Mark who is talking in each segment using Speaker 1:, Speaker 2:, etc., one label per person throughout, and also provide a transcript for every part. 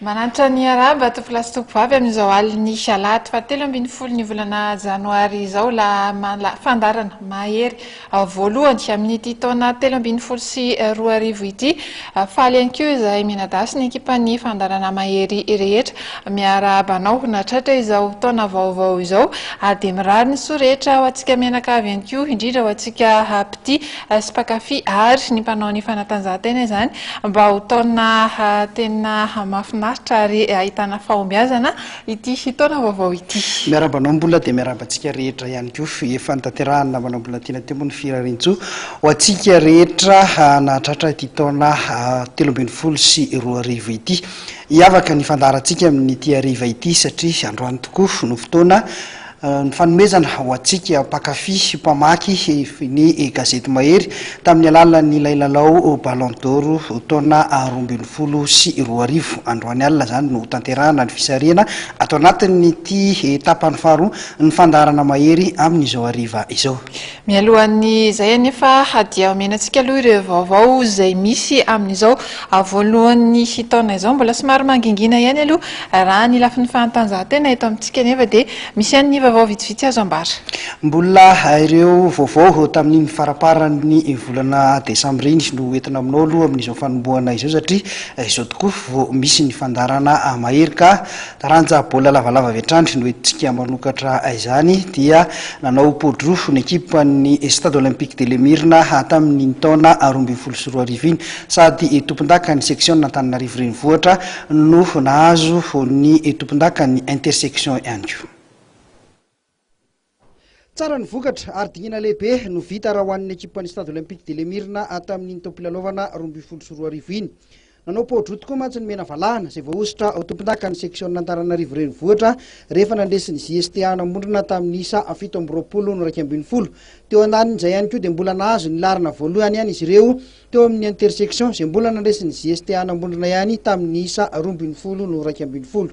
Speaker 1: Manantra ny haraba tompolahy sy tompovavy amin'izao alin'ny alahady fahatelo ambin'ny folo ny volana janoary izao la fandarana mahery voalohany amin'ity taona telo ambin'ny folo sy roa arivo ity faly ihany koa izay mianadahy ny ekipan'ny fandarana mahery rehetra miarahaba anao natratra izao taona vaovao izao ary dia mirary ny soa rehetra ho antsika mianakavy ihany koa indrindra ho antsika hapity sy mpankafy ary ny mpanao ny fanatanjahantena izany mba ho taona tena mahafinaritra ary ahitana fahombiazana ity taona vaovao ity. Miarahaba anao Mbola dia
Speaker 2: miarahaba antsika rehetra ihany koa. Efa nitanterahany namana Mbola tiana teo moa ny firariantsoa ho antsika rehetra nahatratra ity taona telo ambin'ny folo sy roa arivo ity. Hiavaka ny fandaharantsika amin'ity hariva ity satria androany tokoa no fotoana Ny fanomezana ho antsika mpankafy sy mpamaky ny gazety Mahery tamin'ny alalan'ilay lalao Ballon d'Or taona roa ambin'ny folo sy roa arivo. Androany alina izany no hotanterahana ny fisarihana ato anatin'ity tapany faharoa ny fandaharana Mahery amin'izao hariva izao. Mialohan'ny
Speaker 1: izay anefa, hadiaho miainantsika aloha ireo vaovao izay misy amin'izao voalohan'ny taona izao. Mbola somary mangingina ihany aloha raha ny lafiny fahantanjahantena eto amintsika nefa dia misy ihany ny vaovao vitsivitsy azo ambara. Mbola
Speaker 2: ireo vaovao tamin'iny faramparan'ny volana desambra iny no entina aminao aloha amin'izao fanombohana izao satria izao tokoa vao misy ny fandaharana mahery ka Taranja baolina lavalava avy hatrany no entintsika manokatra izany dia nanao poa-drofy ny ekipan'ny Stade Olympique de l'Emirna tamin'iny taona roa ambin'ny folo sy roa arivo iny sady tompondakan'ny seksiona Antananarivo Renivohitra no nahazo ny tompondakan'ny Intersection ihany koa. Tsara ny vokatra ary dingana lehibe no vita raha ho an'ny ekipan'ny Stade Olympique de l'Emirna tamin'iny taom-pilalaovana roa ambin'ny folo sy roa arivo iny. Nanao pao-droa tokoa mantsy ny mena valahana izay voahosotra ho tompondakan'ny seksiônin'Antananarivo Renivohitra rehefa nandresy ny JST Anamondrona tamin'ny isa fito amby roapolo no iraika ambin'ny folo. Teo andanin'izay ihany koa dia mbola nahazo ny laharana voalohany ihany izy ireo teo amin'ny intersection izay mbola nandresy ny JST Anamondrona ihany tamin'ny isa roa ambin'ny folo no iraika ambin'ny folo.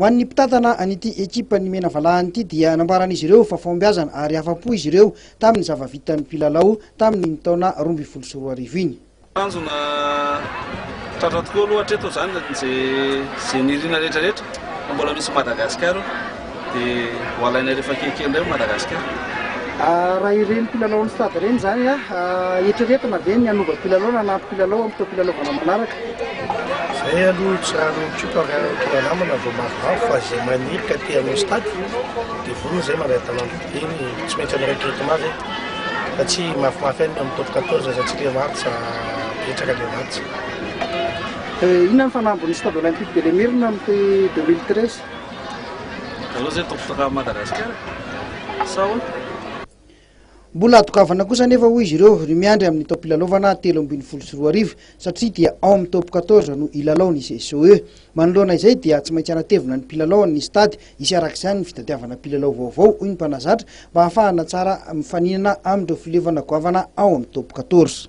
Speaker 2: Ho an'ny mpitantana an'ity ekipan'ny Menavalahana ity dia nambaran'izy ireo fa fahombiazana ary afa-po izy ireo tamin'ny zava-vitan'ny mpilalao tamin'iny taona roa ambin'ny folo sy roa arivo iny. Tanjona
Speaker 3: tratra tokoa aloha hatreto izany izay nirina rehetra rehetra fa mbola misy Madagascar eo. Dia ho alainay rehefa kelikely indray ao Madagasikara. Raha
Speaker 2: ireny mpilalao ny Stade ireny izany, eritreretina ve ny hanova mpilalao na hanampy mpilalao amin'ny taom-pilalaovana manaraka? Izay
Speaker 4: aloha tsy raha ny koto ary ny tohanamana vao mavomavo fa izay maniry ka te hanao Stade dia vonona izay mandray talanjona dia ny tsy maintsy hanao recrutement izay fa tsy mafimafy any amin'ny top 14 aza tsy le match betsaka le match.
Speaker 2: Inona ny fanambin'ny Stade Olympique de l'Emirna amin'ity 2013? Mbola adokavana kosa anefa hoy izy ireo ny miandry amin'ny taom-pilalaovana telo ambin'ny folo sy roa arivo satria dia ao amin'ny top quatorze no hilalao ny CSOE. Manoloana izay dia tsy maintsy hanatevina ny mpilalaony ny stade hisy araka izany ny fitadiavana mpilalao vaovao hoy ny mpanazatra mba hahafahana tsara mifaninana amin'ireo filevana goavana ao amin'ny top quatorze.